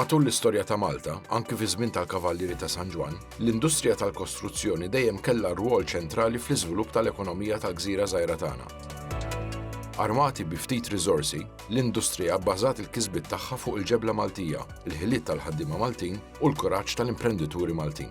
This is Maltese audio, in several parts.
Matul l-istorja ta' Malta, anki fi żmien tal-Kavallieri ta' San Ġwann, l-industrija tal-kostruzzjoni dejjem kellha rwol ċentrali fl-iżvilupp tal-ekonomija tal-gżira żgħira tagħna. Armati bi ftit riżorsi, l-industrija bbażat il-kisbiet tagħha fuq il-ġebla Maltija, il-ħiliet tal-ħaddiema Maltin u l-kuraġġ tal-imprendituri Maltin.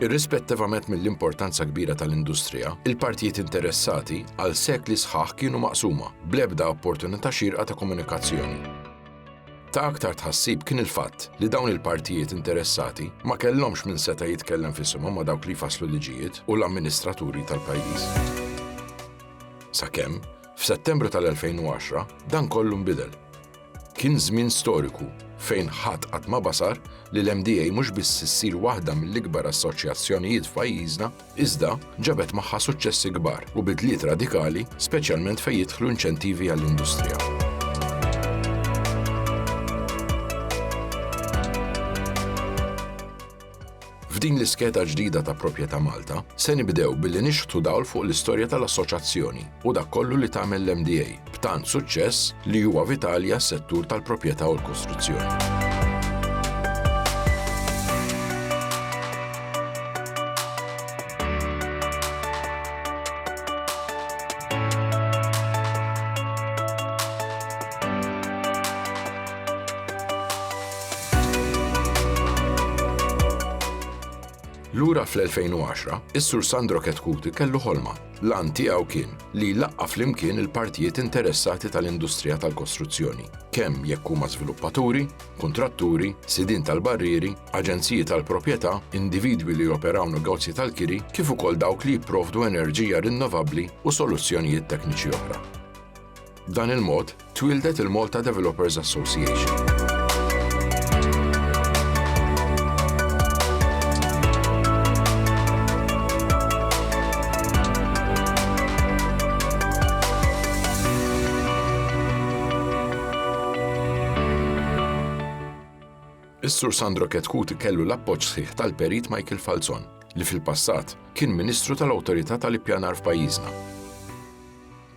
Irrispettivament mill-importanza kbira tal-industrija, il-partijiet interessati għal sekli sħaħ kienu maqsuma, bl-ebda opportunità xierqa ta' komunikazzjoni. Ta' aktar tħassib kien il-fatt li dawn il-partijiet interessati ma kellhomx min seta' jitkellem f'isimhom ma' dawk li jfasslu l-liġijiet u l-amministraturi tal-pajjiż. Sakemm, f'Settembru tal-2010, dan kollu nbidel. Kien żmien storiku fejn ħadd qatt ma basar li l-MDA mhux biss issir waħda mill-ikbar assoċjazzjonijiet f'pajjiżna, iżda ġabet magħha suċċessi kbar u bidliet radikali speċjalment fejn jidħlu inċentivi għall-industrija. F'din l-iskeda ġdida ta' Proprjetà Malta, se nibdew billi nixħtu dawl fuq l-istorja tal-Assoċjazzjoni u dak kollu li tagħmel l-MDA b'tant suċċess li huwa vitali għas-settur tal-proprjetà u l-kostruzzjoni. Lura fl-2010, is-Sur Sandro Ketkuti kellu ħolma. L-għan tiegħu kien li jlaqqa flimkien il-partijiet interessati tal-industrija tal-kostruzzjoni, kemm jekk huma żviluppaturi, kuntratturi, sidin tal-barrieri, aġenziji tal-proprjetà, individwi li joperaw negozji tal-kiri, kif ukoll dawk li jipprovdu enerġija rinnovabbli u soluzzjonijiet tekniċi oħra. B'dan il-mod, twieldet il-Malta Developers Association. Is-Sur Sandro Ketkut kellu l-appoġġ sħiħ tal-perit Michael Falzon, li fil-passat kien Ministru tal-Awtorità tal-Ippjanar f'pajjiżna.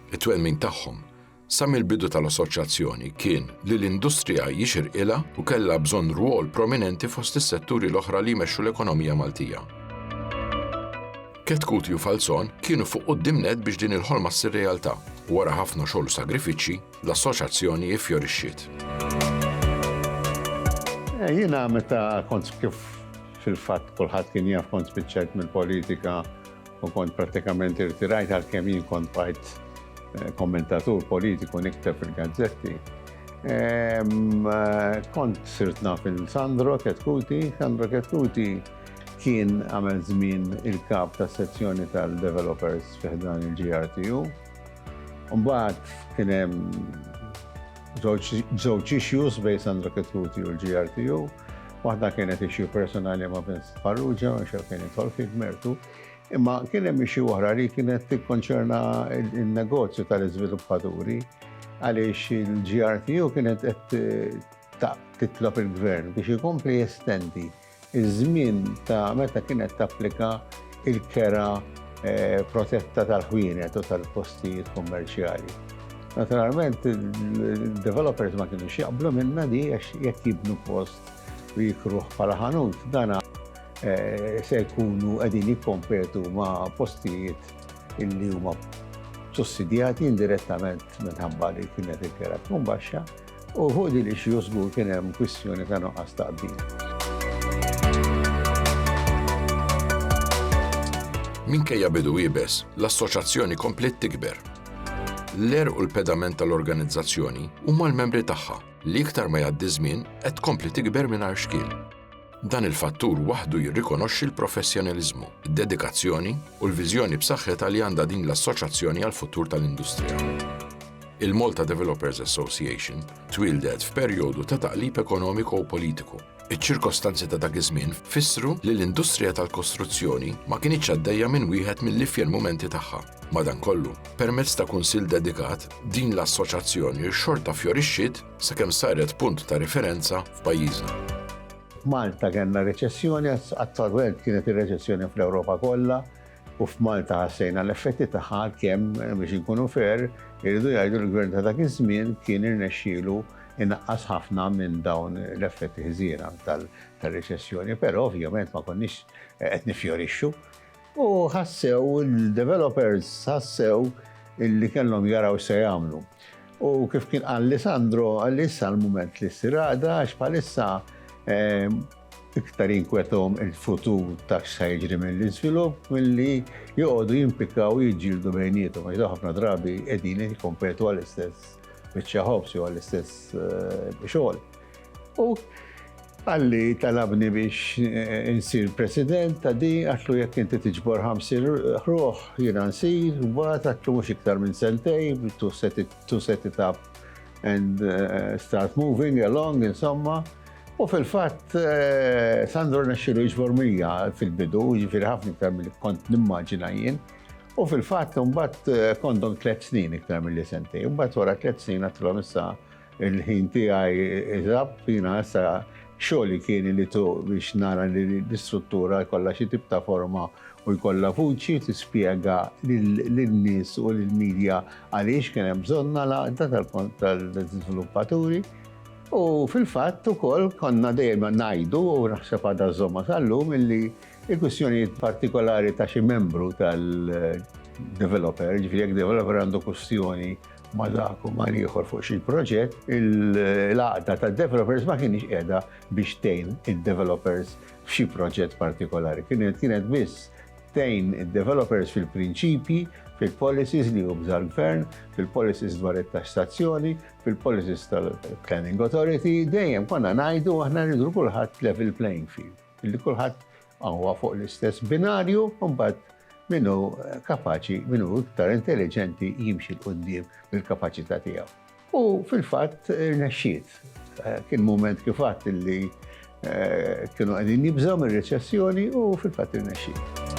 It-twemmin tagħhom sa mill-bidu tal-Assoċjazzjoni kien li l-industrija jixirqilha u kellha bżonn rwol prominenti fost is-setturi l-oħra li jmexxu l-ekonomija Maltija. Ketkuti u Falzon kienu fuq quddiem nett biex din il-ħolma ssir realtà u wara ħafna xogħol u sagrifiċċji, l-Assoċjazzjoni iffjorixxiet. Jiena meta kont kif fil-fatt kulħadd kien jaf kont spiċċajt mill-politika u kont prattikament irtirajt għalkemm jien kont bqajt kommentatur politiku nikteb fil-gazzetti. Kont sirt naf il-Sandro Ketkuti, Sandro Ketkuti kien għamel żmien il-kap ta' sezzjoni tal-developers fiħdan il-GRTU. Mbagħad kien hemm żewġ issues bej Sandro Ketkuti u l-GRTU. Waħda kienet issue personali ma' Vincent Farrugia, għax hekk kien jidħol fih b'mertu, imma kien hemm issue oħra li kienet tikkonċerna n-negozju tal-iżviluppaturi għaliex il-GRTU kienet qed titlob il-gvern biex ikompli jestendi iż-żmien ta' meta kienet tapplika il-kera eh, protetta tal-ħwienet u tal-postijiet kummerċjali. Naturalment, il-developers ma kienu xieqblu minna di għax jekk jibnu post u jikruħ bħala ħanut, dana eh, se jkunu qegħdin jikkompetu ma' postijiet illi huma sussidjati indirettament minħabba li kienet il-kera tkun baxxa. U fuq din ix-xju żgur kien hemm kwistjoni ta' nuqqas ta' qbil. Minkejja bidu iebes, l-Assoċjazzjoni kompliet tikber. L-għerq u l-pedament tal-organizzazzjoni huma l-membri tagħha li iktar ma jgħaddi ż-żmien qed tkompli tikber mingħajr xkiel. Dan il-fattur waħdu jirrikonoxxi l-professjonaliżmu, id-dedikazzjoni u l-viżjoni b'saħħitha li għandha din l-assoċjazzjoni għall-futur tal-industrija. Il-Malta Developers Association twieldet f'perjodu ta' taqlib ekonomiku u politiku. Iċ-ċirkostanzi ta' dak iż-żmien fissru li l-industrija tal-kostruzzjoni ma kinitx għaddejja minn wieħed mill-ifjer mumenti tagħha. Madankollu, permezz ta' kunsill dedikat, din l-assoċjazzjoni xorta fjorixxiet sakemm saret punt ta' riferenza f'pajjiżna. F'Malta kellna reċessjoni, attwalment kienet ir-reċessjoni fl-Ewropa kollha, u f'Malta ħassejna l-effetti tagħha għalkemm biex inkunu fair, irridu jgħidu li l-Gvern ta' dak iż-żmien kien irnexxielu inaqqas ħafna minn dawn l-effetti ħżiena tar-reċessjoni, però ovvjament ma konniex qed niffjorixxu. U ħassew, il-developers ħassew illi kellhom jaraw se jagħmlu. U kif kien qal li Sandro, għal issa l-moment li ssir għada, għax bħalissa ehm, iktar jinkwetom il-futur ta' x'sa jiġri mill-iżvilupp milli joqogħdu jimpikaw jiġġieldu bejnietom għax ħafna drabi qegħdin jikkompetu għall-istess biċċa ħobs jew għall-istess eh, xogħol. U qalli talabni biex eh, insir president ta' di, għatlu jekk inti tiġbor ħamsin ruħ, jina nsir, mbagħad għatlu mhux iktar minn sentej, tu set it up and eh, start moving along, insomma. U fil-fatt eh, Sandro nexxilu jiġbor mija fil-bidu, ġifiri ħafna iktar mill kont nimmaġina jien. U fil-fatt mbagħad kondom tliet snin iktar mill-li sentej, mbagħad wara tliet snin għatlhom issa Il-ħin tiegħi żapp, jiena issa xogħli kien li tu biex nara li l-istruttura jkollha xi tip ta' forma u jkollha vuċi tispjega lin-nies u lill-media għaliex kien hemm bżonnha l-għaqda tal-żviluppaturi. U fil-fatt ukoll konna dejjem ngħidu u naħseb għadha żommha sal-lum illi l-kwistjonijiet partikolari ta' xi membru tal-developer, jiġifieri jekk developer għandu kwistjoni, ma' dak u ma' ieħor fuq xi proġett, il-għaqda tad-developers ma kinitx qiegħda biex tgħin id-developers f'xi proġett partikolari. Kienet biss tgħin id-developers fil-prinċipji, fil-policies li jubża l-gvern, fil-policies dwar it-taxxazzjoni, fil-policies tal-planning authority, dejjem konna ngħidu aħna rridu kulħadd level playing field, li kulħadd Huwa fuq l-istess binarju u mbagħad min hu kapaċi, min hu iktar intelliġenti jimxi 'l quddiem bil-kapaċità tiegħu. U fil-fatt irnexxiet. Kien mument kif għedt illi kienu qegħdin jibżgħu mir-reċessjoni u fil-fatt irnexxiet.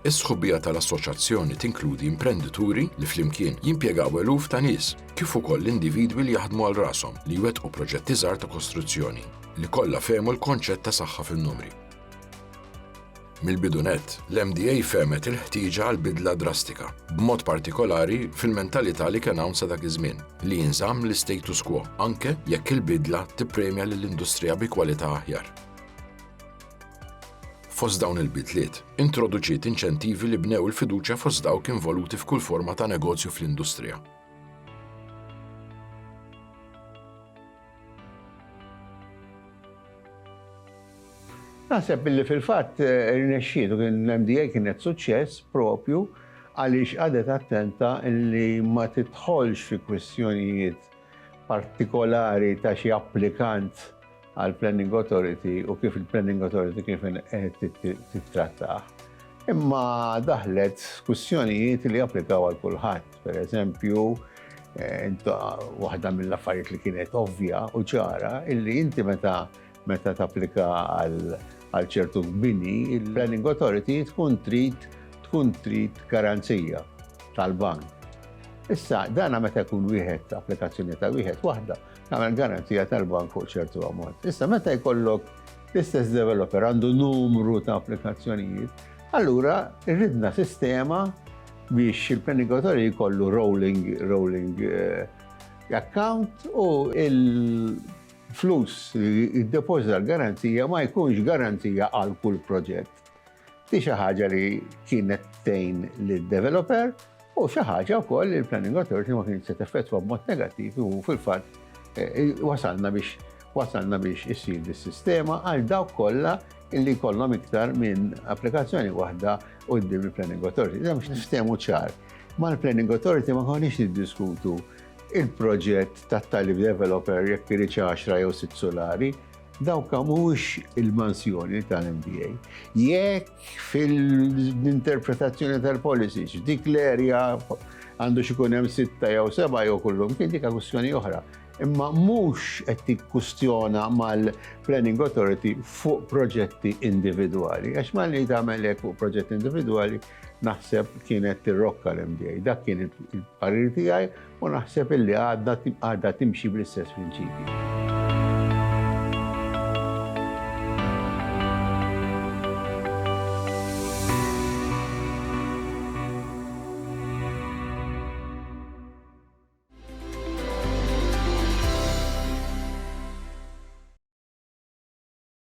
Is-sħubija tal-assoċjazzjoni tinkludi imprendituri li flimkien jimpjegaw eluf ta' nies, kif ukoll individwi li jaħdmu għal rashom li jwettqu proġetti żgħar ta' kostruzzjoni, li kollha fehmu l-konċett ta' saħħa fin-numri. Mill-bidu nett, l-MDA fehmet il-ħtieġa għal bidla drastika, b'mod partikolari fil-mentalità li kien hawn sa dak iż-żmien, li jinżamm l-istatus quo anke jekk il-bidla tippremja lill-industrija bi kwalità aħjar. Fost dawn il-bidliet, introduċiet inċentivi li bnew il-fiduċja fost dawk involuti f'kull forma ta' negozju fl-industrija. Naħseb li fil-fatt eh, irnexxielu kien l-MDA kienet suċċess propju għaliex għadet attenta li ma titħolx fi kwistjonijiet partikolari ta' xi applikant għal Planning Authority u kif il-Planning Authority kif tittrattah. Imma daħlet kussjonijiet li applikaw għal kulħadd, per eżempju, eh, waħda mill-affarijiet li kienet ovvja u ċara illi inti meta Meta tapplika għal ċertu bini, il-Planning Authority tkun trid tkun trid garanzija tal-bank. Issa, dana meta jkun wieħed applikazzjoni ta' wieħed waħda, tagħmel garanzija tal-bank fuq ċertu ammont. Issa meta jkollok l-istess developer għandu numru ta' applikazzjonijiet, allura rridna sistema biex il-penigatori jkollu rolling, rolling eh, account u il- Flus li jiddepożita l-garanzija ma jkunx garanzija għal kull proġett. Di xi ħaġa li kienet tgħin lid-developer u xi ħaġa wkoll li l-Planning Authority ma kienx se teffettwa b'mod negattiv u fil-fatt eh, wasalna biex wasalna biex issir dis-sistema għal dawk kollha illi kollhom iktar minn applikazzjoni waħda u d-dim il-Planning Authority. Dem x'niftehmu ċar. Ma l-Planning Authority ma konniex niddiskutu il-proġett tat-tali developer jekk iridx 10 jew sitt sulari, dawk mhux il-mansjoni tal-MDA. Jekk fil-interpretazzjoni tal-policy dik l-erja għandu xikun hemm sitta jew seba' jew kullum kien dik kwistjoni oħra. Imma mhux qed tikkustjona mal-Planning Authority fuq proġetti individwali, għax malli tagħmel hekk fuq proġett individwali, naħseb kienet tirrokka l-MDA. Dak kien il-parir tiegħi u naħseb illi għadha timxi bl-istess prinċipji.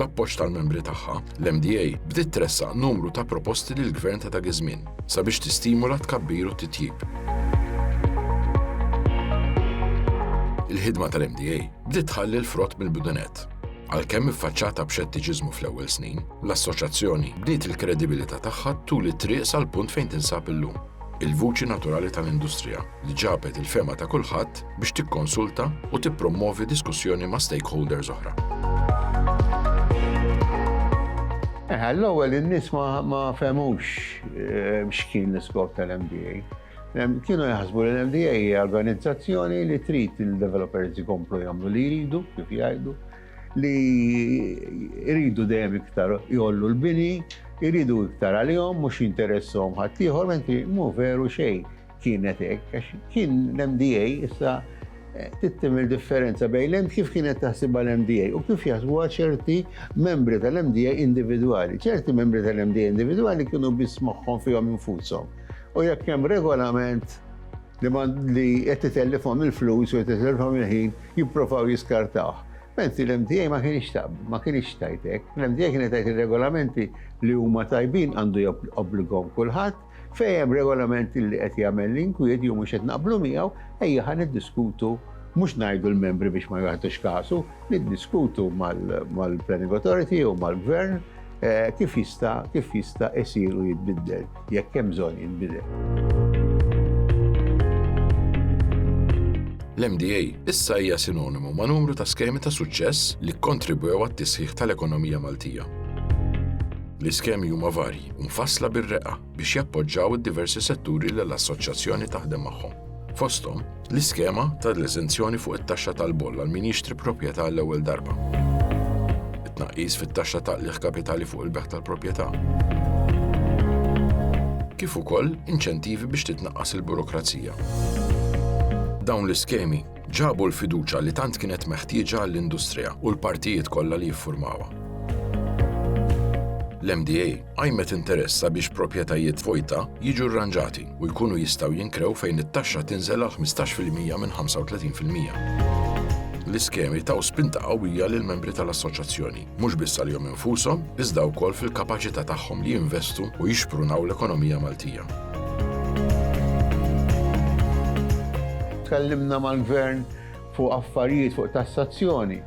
bl-appoġġ tal-membri tagħha, l-MDA bdiet tressaq numru ta' proposti lil gvern ta' dak iż-żmien sabiex tistimula tkabbir u titjib. Il-ħidma tal-MDA bdiet tħalli l-frott mill-bidunet. Għalkemm iffaċċata b'xettiċiżmu fl-ewwel snin, l-Assoċjazzjoni bniet il-kredibilità tagħha tul it-triq sal-punt fejn tinsab illum, il-vuċi naturali tal-industrija li ġabet il-fehma ta' kulħadd biex tikkonsulta u tippromwovi diskussjoni ma' stakeholders oħra. L-ewwel in-nies ma fehmux x'kien l-iskop tal-MDA. Kienu jaħsbu li l-MDA hija organizzazzjoni li trid il-developers ikomplu jagħmlu li jridu, kif jgħidu, li jridu dejjem iktar jollu l-bini, jridu iktar għalihom, mhux jinteressom ħaddieħor, mentri mhu veru xejn kienet hekk, għax kien l-MDA issa eh, tittim il-differenza bejn l kif kienet taħsibha l-MDA u kif jaħsbuha ċerti membri tal-MDA individwali. ċerti membri tal-MDA individwali kienu biss moħħhom fihom infushom U jekk hemm regolament li li qed titellifhom il-flus u qed titellifhom il-ħin jipprovaw jiskartawh. Menzi l-MTA ma kienx tab, ma kienx tajtek. L-MTA kienet tajt ir-regolamenti li huma tajbin għandu jobbligom kulħadd fejn hemm regolamenti li qed jagħmel l-inkwiet jew mhux qed naqblu miegħu ejja ħa niddiskutu mhux ngħidu l-membri biex ma jagħtux kasu, niddiskutu mal-Planning Authority jew mal-Gvern Kif jista' kif jista' isir u jitbiddel jekk hemm bżonn jinbidel. L-MDA issa hija sinonimu ma' numru ta' skemi ta' suċċess li kkontribwew għat-tisħiħ tal-ekonomija Maltija. L-iskemi huma varji u mfassla bir-reqqa biex jappoġġaw id-diversi setturi li l-Assoċjazzjoni taħdem magħhom. fosthom l-iskema tal-eżenzjoni fuq it-taxxa tal-boll għal min jixtri proprjetà għall-ewwel darba, it-tnaqqis fit-taxxa ta' qligħ kapitali fuq il-bejgħ tal-proprjetà, kif ukoll inċentivi biex titnaqqas il-burokrazija. Dawn l-iskemi ġabu l-fiduċja li tant kienet meħtieġa għall-industrija u l-partijiet kollha li jiffurmawha. L-MDA qajmet interess sabiex proprjetajiet vojta jiġu rranġati u jkunu jistgħu jinkrew fejn it-taxxa tinżel għal 15 fil-mija minn 35 fil-mija. L-iskemi taw spinta qawwija lill-membri tal-Assoċjazzjoni, mhux biss għalihom infushom, iżda wkoll fil-kapaċità tagħhom li jinvestu u jixprunaw l-ekonomija Maltija. tkellimna mal-gvern fuq affarijiet fuq tassazzjoni.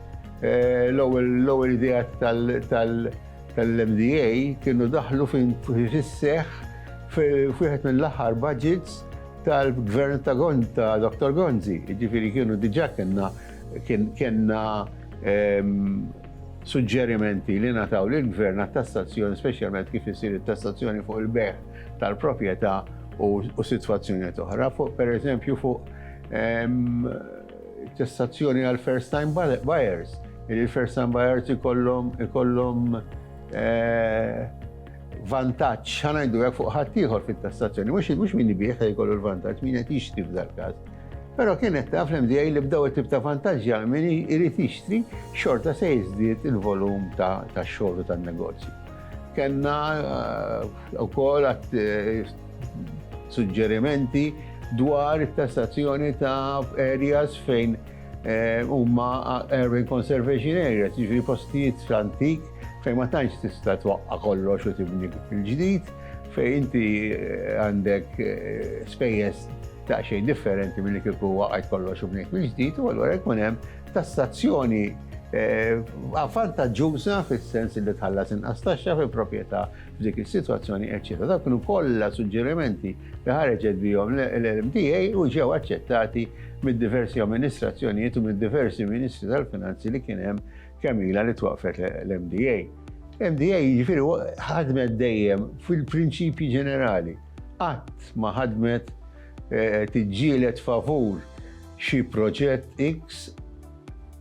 Eh, l-ewwel idea tal- tal-MDA kienu daħlu fis-seħħ f'wieħed mill-aħħar budgets tal-Gvern ta' Dr. Gonzi. Jiġifieri kienu diġà kellna kellna suġġerimenti li ngħataw lill-Gvern għat-tassazzjoni, speċjalment kif isir it-tassazzjoni fuq il-bejgħ tal-proprjetà u sitwazzjonijiet oħra, fuq pereżempju fuq tassazzjoni għal first time buyers, li first time buyers ikollhom ikollhom eh, vantaġġ ħanajdu jekk fuq ħaddieħor fit-tassazzjoni, mhux mhux min jbih se jkollu l-vantaġġ, min qed jixtri f'dal-każ. Però kien qed taf l-MDA li bdew it-tip ta' vantaġġi għal min irid jixtri xorta se jiżdied il-volum ta' xogħol tan-negozju. Kenna eh, ukoll eh, Suġġerimenti dwar tassazzjoni ta' areas fejn eh, huma urban conservation areas, ġifieri postijiet antik fejn ma tantx tista' twaqqa' kollox u tibni il-ġdid, fejn inti eh, għandek eh, spejjeż ta' xejn differenti mill-li kieku waqgħet kollox u bnejt mill-ġdid u allura jkun hemm tassazzjoni Eh, vantaġġuża fis-sens li tħallas inqas taxxa fi proprjetà F'dik is-sitwazzjoni, eċċetera Dawn kienu kollha suġġerimenti li ħareġet bihom l-LMDA u ġew aċċettati mid-diversi amministrazzjonijiet u mid-diversi Ministri tal-Finanzi li kien hemm kemm ilha li twaqqfet l-MDA. MDA jiġifieri ħadmet dejjem fil-prinċipji ġenerali. Qatt ma ħadmet eh, tiġġieled favur xi proġett X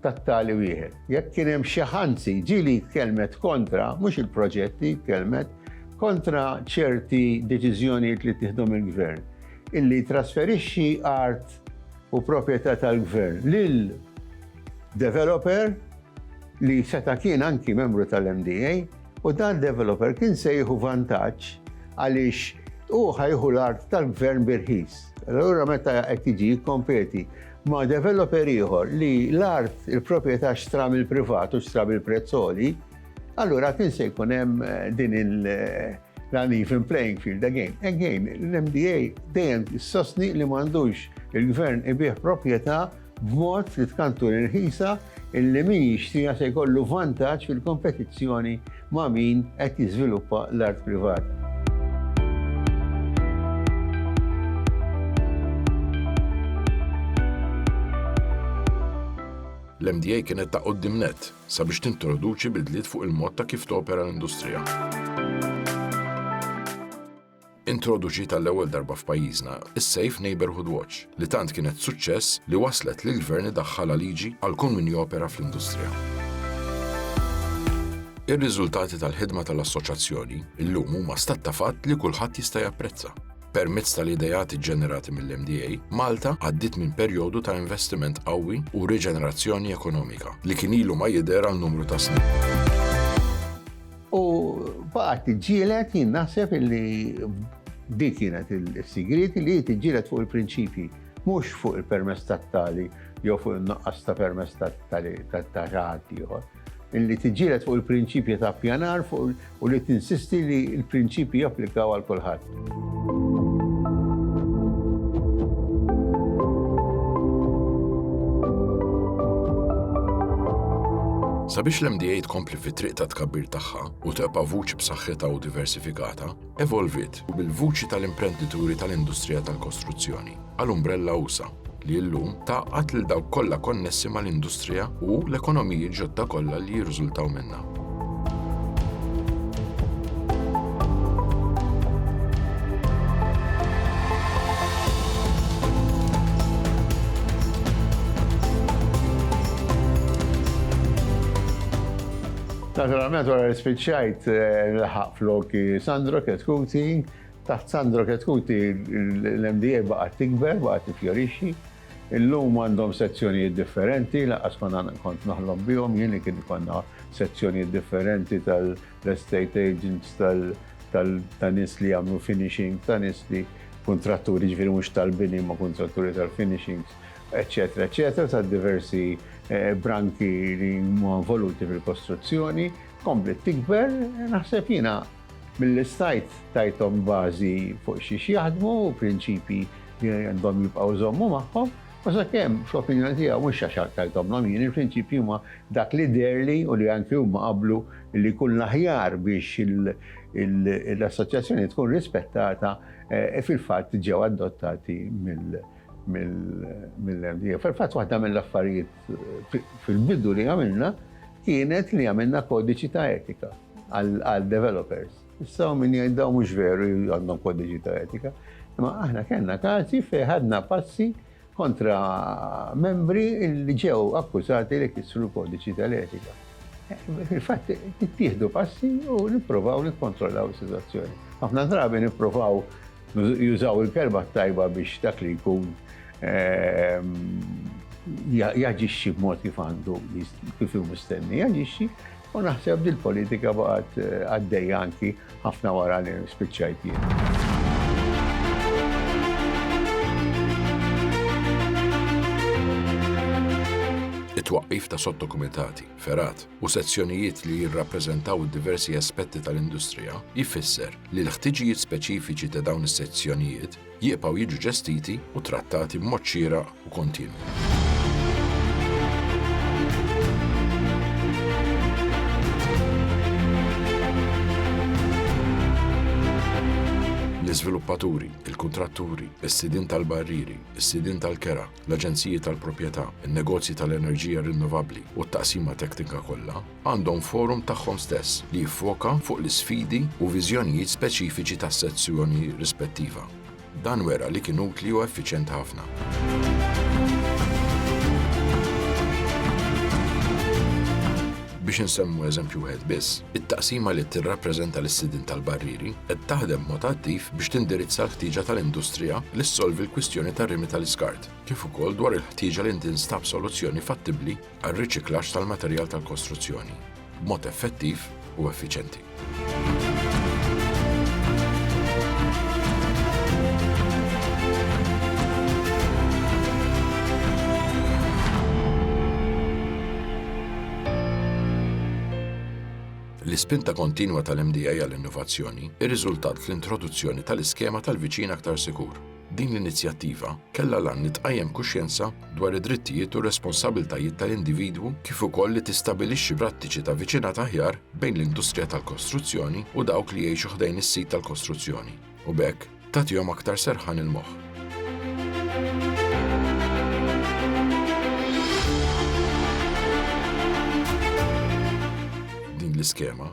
tat-tali wieħed. Jekk kien hemm xi anzi, ġieli tkellmet kontra, mhux il-proġetti, tkellmet kontra ċerti deċiżjonijiet li ttieħdu mill-Gvern, illi jtrasferixxi art u proprjetà tal-Gvern lil developer li seta' kien anki membru tal-MDA u dan developer kien se jieħu vantaġġ għaliex hu ħa jieħu l-art tal-Gvern bi rħis. Allura meta qed jiġi jikkompeti ma' developer ieħor li l-art, il-proprjetà xtra mill-privat u xtra bil-prezz għoli, allura kien se jkun hemm eh, din il- eh, l-uneven playing field again. Again, l-MDA dejjem sostni li m'għandux il-gvern ibih proprjetà b'mod li tkantu l-ħisa illi min jixtrija se jkollu vantaġġ fil-kompetizzjoni ma' min qed jiżviluppa l-art privata. L-MDA kienet ta' quddiem nett sabiex tintroduċi bidliet fuq il-mod ta' kif topera l-industrija. Introduċiet għall-ewwel darba f'pajjiżna is-Safe Neighbourhood Watch li tant kienet suċċess li wasslet li l-Gvern idaħħalha liġi għal kull min jopera fl-industrija. Ir-riżultati tal-ħidma tal-Assoċjazzjoni llum huma stat ta' fatt li kulħadd jista' japprezza. Permezz tal-ideat iġġenerati mill-MDA, Malta għaddiet minn perjodu ta' investiment qawwi u riġenerazzjoni ekonomika li kien ilu ma jidher għal numru ta' snin. U baqgħet tiġġieled jien naħseb illi dik kienet is-sigriet li tiġġieled fuq il-prinċipji, mhux fuq il-permess tat-tali jew fuq in-nuqqas ta' permess tat-tali ta' ħadd ieħor. Illi tiġġieled fuq il-prinċipji ta' pjanar u li tinsisti li l-prinċipji japplikaw għal kulħadd. Sabiex l-MDA tkompli fit-triq ta' tkabbir tagħha u teqpa' vuċi b'saħħitha u diversifikata, evolvit u bil-vuċi tal-imprendituri tal-industrija tal-kostruzzjoni. għal umbrella usa' li llum tgħaqqad lil dawk kollha konnessi mal-industrija u l-ekonomiji ġodda kollha li jirriżultaw minnha. Naturalment wara li spiċċajt nilħaq floki Sandro Chetcuti Taħt Sandro Chetcuti l-MDA baqgħet tikber, baqgħet tiffjorixxi. Illum għandhom sezzjonijiet differenti, lanqas kont noħlom bihom jien li kien ikollna sezzjonijiet differenti tal-estate agents, ta' nies li jagħmlu finishing, ta' nies li kuntratturi, jiġifieri mhux tal-bini imma kuntratturi tal-finishings, eċċetera, eċċetera, ta' diversi branki li huma involuti fil-kostruzzjoni. Kompliet tikber, naħseb jiena. Milli stajt tajthom bażi fuq xiex jaħdmu u prinċipji li għandhom jibqgħu jżommu magħhom, u sakemm, fl-opinjoni tiegħu, mhux għax tajthomlhom jien, il-prinċipji huma dak li deherli u li anki huma qablu li jkun l-aħjar biex l-Assoċjazzjoni tkun rispettata, fil-fatt ġew adottati mill-MDA. Fil-fatt waħda mill-affarijiet fil-bidu li għamilna, kienet li għamilna kodiċi ta' etika għal developers. Issa min jgħid daw mhux veru għandhom kodiċi ta' etika. Imma aħna kellna każi fejn ħadna passi kontra membri li ġew akkużati li kisru l-kodiċi tal-etika. Fil-fatt, tittieħdu passi u nipprovaw nikkontrollaw is-sitwazzjoni. Ħafna drabi nipprovaw Jużaw il-kelma t-tajba biex dak li jkun jaġixxi b'mod kif għandu, kif hu mistenni jaġixxi, u naħseb din il-politika baqgħet eh, għaddejja anki ħafna wara li spiċċajt jien. It-twaqqif ta' sottokumitati, ferat, u sezzjonijiet li jirrappreżentaw id-diversi aspetti tal-industrija jfisser li l-ħtiġijiet speċifiċi ta' dawn is-sezzjonijiet jibqgħu jiġu ġestiti u trattati b'mod xieraq u kontinwu. L-iżviluppaturi, il-kuntratturi, is-sidien tal-barrieri, is-sidien tal-kera, l-aġenziji tal-proprjetà, in-negozji tal-enerġija rinnovabbli u t-taqsima teknika kollha għandhom forum tagħhom stess li jiffoka fuq l-isfidi u viżjonijiet speċifiċi tas-sezzjoni rispettiva. Dan wera li kien utli u effiċjenti ħafna. Biex insemmu eżempju wieħed biss, it-taqsima li tirrappreżenta lis-sidien tal-barrieri qed taħdem b'mod attiv biex tindirizza l-ħtieġa tal-industrija li ssolvi l-kwistjoni tar-rimi tal-iskart, kif ukoll dwar il-ħtieġa li tinstab soluzzjoni fattibbli għar-riċiklaġġ tal-materjal tal-kostruzzjoni b'mod effettiv u effiċjenti. L-ispinta kontinwa tal-MDA għall-innovazzjoni rriżultat fl-introduzzjoni tal-iskema tal-Viċin Aktar Sikur, Din l-inizjattiva kellha l-għan li tqajjem kuxjenza dwar id-drittijiet u r-responsabbiltajiet tal-individwu kif ukoll li tistabilixxi prattiċi ta' viċinat aħjar bejn l-industrija tal-kostruzzjoni u dawk li jgħixu ħdejn is-sit tal-kostruzzjoni u b'hekk tagħtihom aktar serħan il-moħħ. Din l-iskema